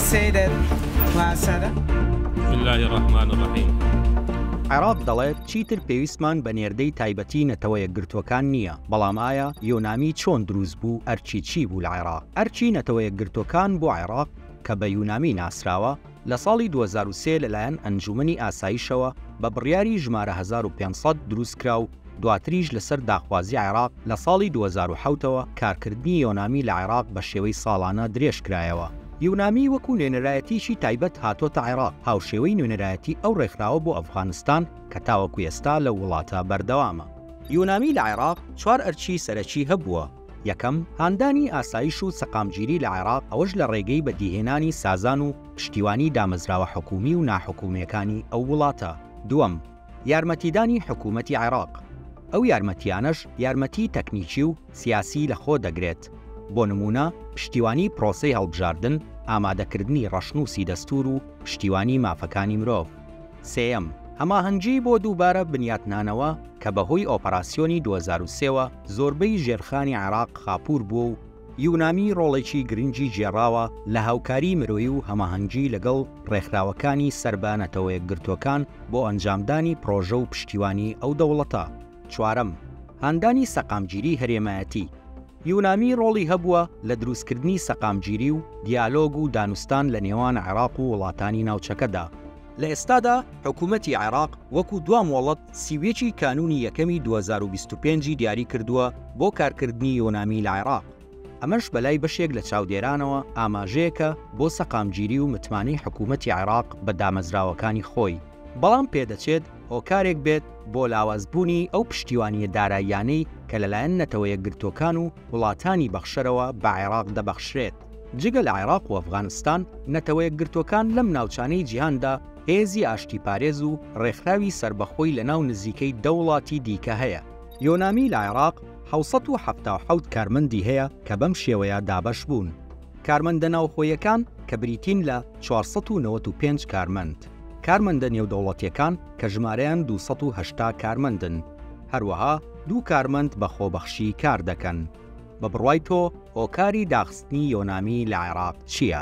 السيدر وسادة بسم الله الرحمن الرحيم عێراق دەڵێت چیتر پێویستمان بە نێردەی تایبەتی نەتەوە یەکگرتوەکان نییە بەڵام ئایا یۆنامی چۆن دروست بوو ئەرچی چی بوو لە عێراق ئەرچی نەتەوە یەکگرتوەکان بۆ عێراق کە بە یونامی ناسراوە لە ساڵی 2023 لەلایەن ئەنجومنی ئاسایشەوە بە بڕیاری ژمارە 1500 دروستکرا و دواتریش لەسەر داخوازی عێراق لە ساڵی دوو هەزار و حەوت ەوە کارکردنی یۆنامی لە عێراق بە شێوەی ساڵانە درێژکرایەوە. یونامی وەکو نوێنەرایەتییەکی تایبەت هاتۆتە عێراق، هاوشێوەی نوێنەرایەتی ئەو ڕێکخراوە بۆ ئەفغانستان کە تاوەکو ئێستا لەو وڵاتە بەردەوامە. یونامی لە عێراق چوار ئەرکی سەرەکی هەبووە، یەکەم، هاندانی ئاسایش و سەقامگیری لە عێراق، ئەوەش لە ڕێگەی بەدیهێنانی سازان و پشتیوانی دامەزراوە حکوومی و ناحکوومییەکانی ئەو وڵاتە، دووەم، یارمەتیدانی حکوومەتی عێراق، ئەو یارمەتییانەش یارمەتیی تەکنیکی و سیاسی لە خۆ دەگرێت، بۆ نموونە پشتیوانیی پرۆسەی هەڵبژاردن، ئامادەکردنی ڕەشنووسی دەستوور و پشتیوانیی مافەکانی مرۆڤ. سێیەم، هەماهەنگیی بۆ دووبارە بنیاتنانەوە کە بەهۆی ئۆپەراسیۆنی دوو هەزار و سێ وە زۆربەی ژێرخانی عێراق خاپوور بووە و یونامی ڕۆڵێکی گرنگی گێڕاوە لە هاوکاریی مرۆیی و هەماهەنگی لەگەڵ ڕێکخراوەکانی سەر بە نەتەوەیەکگرتووەکان بۆ ئەنجامدانی پڕۆژە و پشتیوانیی ئەو دەوڵەتە. چوارەم، هاندانی سەقامگیری هەرێمایەتی، یونامی ڕۆڵی هەبووە لە دروستکردنی سەقامگیری و دیالۆگ و دانوستان لە نێوان عێراق و وڵاتانی ناوچەکەدا، لە ئێستادا حکوومەتی عێراق وەکو دوا مۆڵەت سی و یەک ی کانوونی یەکەمی دوو هەزار و بیست و پێنج ی دیاری کردووە بۆ کارکردنی یۆنامی لە عێراق، ئەمەش بەلای بەشێک لە چاودێرانەوە ئاماژەیەکە بۆ سەقامگیری و متمانەی حکوومەتی عێراق بە دامەزراوەکانی خۆی، بەڵام پێدەچێت هۆکارێک بێت بۆ لاوازبوونی ئەو پشتیوانییە داراییانەی کە لەلایەن نەتەوە یەکگرتووەکان و وڵاتانی بەخشەرەوە بە عێراق دەبەخشرێت. جگە لە عێراق و ئەفغانستان، نەتەوەیەکگرتووەکان لەم ناوچانەی جیهاندا هێزی ئاشتیپارێز و ڕێکخراوی سەربەخۆی لەناو نزیکەی دە وڵاتی دیکە هەیە. یۆنامی لە عێراق حەوت سەد و حەفتا و حەوت کارمەندی هەیە کە بەم شێوەیە دابەش بوون. کارمەندە ناوخۆیەکان کە بریتین لە چوار سەد و نەوەد و پێنج کارمەند. کارمەندە نێودەوڵەتییەکان کە ژمارەیان دوو سەد و هەشتا کارمەندن. هەروەها دوو کارمەند بە خۆبەخشی کار دەکەن. بە بڕوای تۆ هۆکاری داخستنی یۆنامی لە عێراق چییە؟